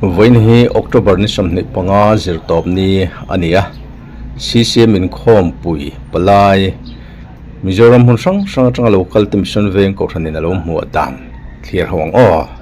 Vawiin hi October ni sawmhnih panga zirtawp ni a ni a, CCM inkhawmpui palai Mizoram hmun hrang hrang atanga local te mission veng kohhran in a lo hmuh dan thlir ho ang aw.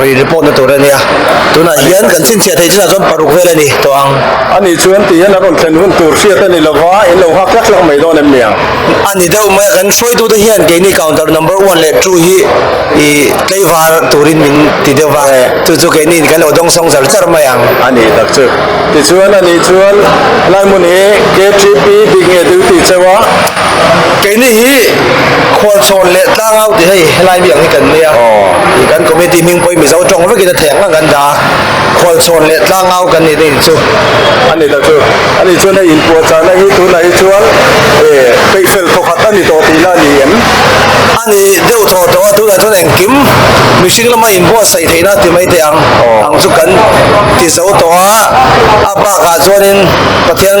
Ri report na tur a nia. Tunah hian kan chhinchhiah theih chinah chuan paruk vel a ni tawh ang. A nih chu an tih hian a rawn thlen hun tur hriat a ni lo va, in lo hak tlak tlak mai dawn em nia? A ni deuh mai a, kan hruaitute hian keini counter number one leh two hi ih tleivar turin min ti deuh va, chu chu keini in kan lo dawng sawng zar zar mai ang. A ni tak chu. Tichuan a nih chuan, a lai hmun hi K-Trip-i dik nge duty chauh a. Keini hi khualchhawn leh tlangau ti hei helai miang hi kan nia. Kan committee hming pawh hi Mizo tawng vekin a theh ang ang kan dah a, khualchhawn leh tlangau kan nih te in chu. A ni ta chu. A nih chuan hei inpuahchahna hi tunah hi chuan peihfel thawkhat a ni tawh tih ila a ni em? A ni deuh tawh tawh a, tunah chuan engkim mihring lama inbuatsaih theihna ti mai te ang ang chu kan ti zo tawh a, a bakah chuanin Pathian.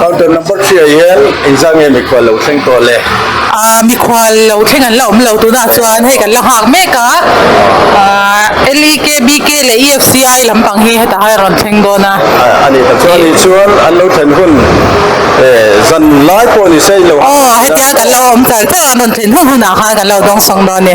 Counter number three-ah hian engzah nge mikhual lo thleng tawh le? Aaa, mikhual lo thleng an la awm lo tunah chuan hei kan la nghak mek a, aaa LEK, BK leh EFCI lampang hi hetah hian a rawn thleng dawn a. A ni ta chuan ni chuan an lo thlen hun zan lai pawh a ni se i lo. Aw, hetiang kan lo awm tal tak a, an rawn thlen hun hunah khan kan lo dawngsawng dawn a ni.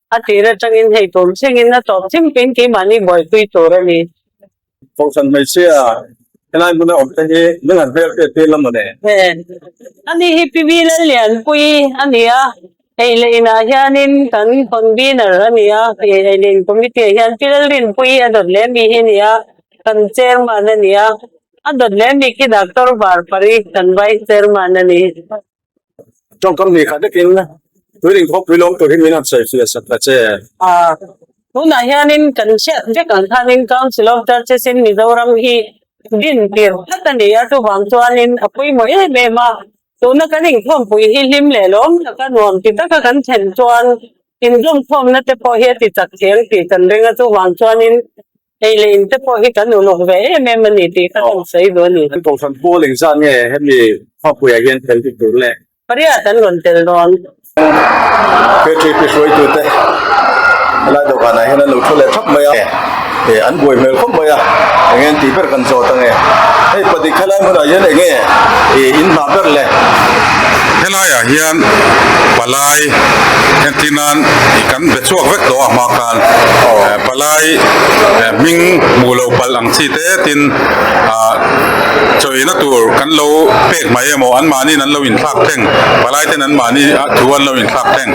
A tir atangin hei tum thlengin a tawp chim pin tih mahni buaipui tur a ni. Kohhran hmeichhia helai hmun a awm te hi min han hmel teh tir lam a ni. A ni hi Pivi Lallianpuii a ni a, eihleh inah hianin kan convener a ni a, eihleh in committee ah hian Pi Lalrinpuii a dawt leh mi hi a ni a, kan chairman a ni a, a dawt leh mi khi Doctor Varpari kan vice chairman a ni. Tawngkam hnih khat nakin tuin inkhawpui lawm tur hi min han sawi fia sak ta che. Tunah hianin kan hriat vek ang khanin Council of Churches in Mizoram hi din tir tlat a ni a, chuvang chuanin a puimawih em em a, tuna kan inkhawmpui hi hlim leh lawm taka nuam ti taka kan thlen chuan inzawmkhawmna te pawh hi a tichak thiang tih kan ring a, chuvang chuanin Hei leh in te pawh hi kan ulawk ve em em a ni tih ka tawng sawi duh a ni. Kan kawngkham pawl eng zan nge hemi khawpuiah hian fel dik tur le. Pariat an rawn tel dawn. Battery pi hruai tur te helai dawhkan ah hian an lo thu leh thap mai a. Nge an buai hmel khawp mai a eng nge an tih ber kan zawt a nge hei padik helai hmun ah hian eng nge i in hna ber le. Helai ah hian palai entlin nan i kan be chhuak vek tawh a hma khan palai. Tlai eh hming hmuh loh palh ang chi te tin ah chawih na tur kan lo pek mai emaw an mahniin an lo in thlak thleng palai ten an mahni ah thu an lo in thlak thleng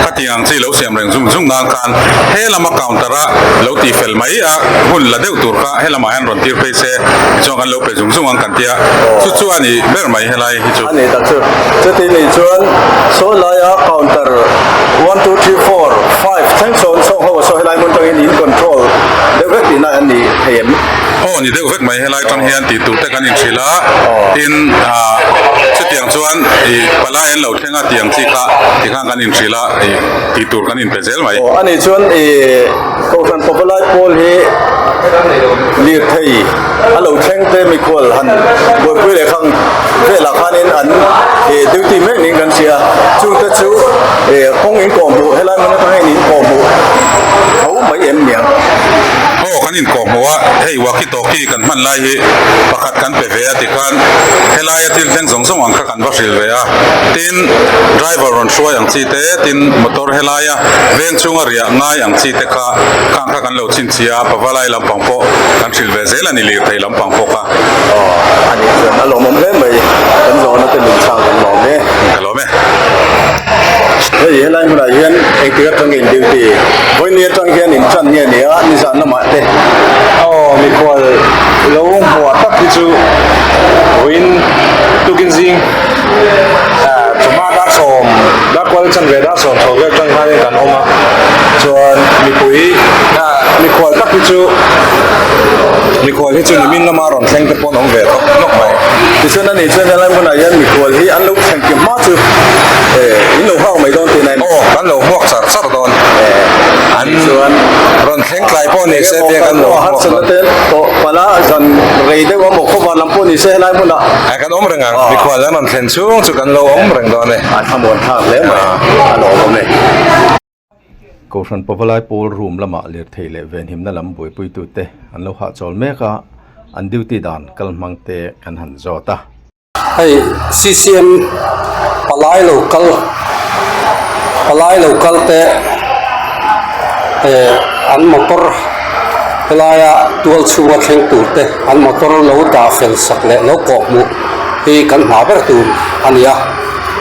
khatiang ang chi lo siam reng zung zung nan khan he lama counter ah lo ti fel mai a hun la deuh tur kha he lamah hian rawn tir phei se tichuan kan lo pe zung zung ang kan tia chu chu a nih ber mai helai. a ni ta chu chuti ni chuan sawi laia counter one two three four five thleng sawn sawng ho a sawi helai hmun tang hian in control deuh vek tih na an ni thei em aw ni deuh vek mai helai tan hian tih tur te kan in hrilh a tin ah chutiang chuan i pala en lo thlenga tih ang chi kha ti khan kan in hrilh a i tih tur kan in pe zel mai. Aw ani chuan i kohhran pawpa lai pawl hi lirthei. a lo thleng te mikual han buaipui leh khang velah khanin an ih duty mek niin kan hria chungte chu ih kawng in kawh hmuh helai hmun atang hian in kawh hmuh tho mai em ni ang. Aw kan in kawh hmuh a, hei walkie talkie kan hman lai hi pakhat kan pe ve a ti khan helaia thil thleng zawng zawng ang kha kan va hrilh ve a tin driver rawn hruai ang chi te tin motor helaia veng chhunga riah ngai ang chi te kha khang kha kan la Lo chhinchhia a pava lai lampang pawh kan hrilh ve zel a ni lirthei lampang pawk a. Aww ani chuan a lawmawm hle mai kan zawhna te min chhang kan lawm e. Ka lawm e. Hei helai hmunah hian engtir atanga in duty vawiini atang hian in tan nge nia nizan lamah te aw mikhual lo hmuah tak hi chu vawiin tukin zing ah chawhma dark sawm dark kual a chan ve dang. Chhuan chho ber tang hianin kan awm a, chuan mipui mikhual tak hi chu mikhual hi chu nimin lama rawn thleng te pawhin awm ve tawk tawk mai. Tichuan a nih chuan helai hmunah hian mikhual hi an lo thleng kip hma chu min lo nghak mai dawn tihna a ni. Aw kan lo hmuak char char dawn an rawn thleng tlai pawh ni se tia kan lo hmuak dawn. Harsanna ten tawh pala zan rei deuh a mawh khawvar lam pawh ni se helai hmunah. Kan awm reng a, mikhua lam an thlen chhung chu kan lo awm reng dawn a ni. Ai kha muan thlak hle mai a lo awm e. Kohhran pavalai pawl room lama lirthei leh venhimna lam buaipuitu te an lo hahchawl mek a, an duty dan kal hmang te kan han zawt a. Hei CCM palai lo kal palai lo kal te an motor helaia tual chhunga thleng tur te. An motor lo dah fel sak leh lo kawh hmuh hi kan hma ber tur a ni a,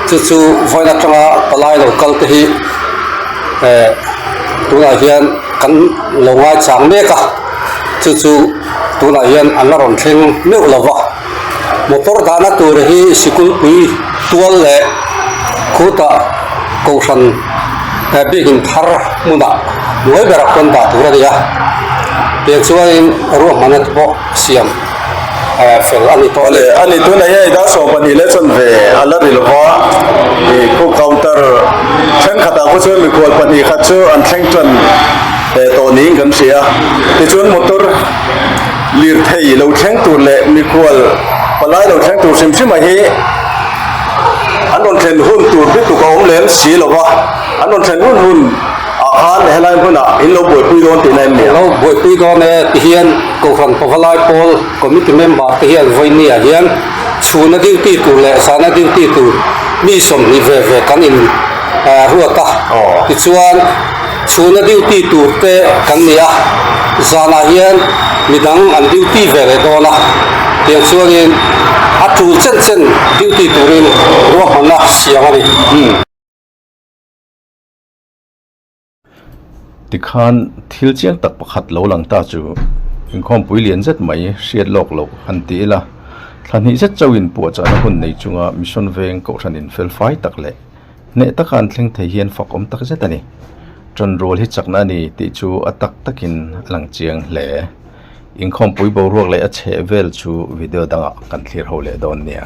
chu chu vawiin atanga palai lo kal te hi eh tunah hian kan lo ngai chang mek a, chu chu tunah hian an la rawn thleng meuh lo va, motor dahna tur hi sikulpui tual leh khutah kohhran, he bik in thar hmunah ngawi ber a pawn dah tur a ni a, tiang chuanin ruahmahna te pawh siam eh fel a ni tawh a ni. A ni tunah hian Ida sawm pahnih leh chawn ve a la ri lo va, ih cook counter thenkhatah pawh chuan mikual pahnih khat chu an thleng tlan eh tawh niin kan hria, tichuan motor lirthei lo thleng tur leh mikual palai lo thleng tur hrim hrimah hi, an rawn thlen hun tur dik tuk a awm lem si lo va, an rawn thlen hun hun ah khan he lai hmun ah in lo buaipui dawn tihna em nia? Lo buaipui dawn e ti hian Kohhran pava lai pawl committee member te hian vawiini ah hian chhuna duty tur leh zahna duty tur mi sawmhnih ve ve kan in ruat a, tichuan. Chhuna duty tur te kan ni a, zanah hian midang an duty ve leh dawn a, tiang chuanin a tul chen chen duty turin ruahmanna siam a ni. Tikhan thil chiang tak pakhat lo lang ta chu inkhawmpui lian zet mai hriat lawk loh han ti ila, thlahnih zet chauhin puahchahna hun nei chunga mission veng kohhranin felfai tak leh, Hneh taka an thleng thei hian fak awm tak zet a ni. Ṭan rual hi chakna a ni tih chu a tak takin a lang chiang hle. Inkhawmpui boruak leh a chheh vel chu video dangah kan thlir ho leh dawn nia.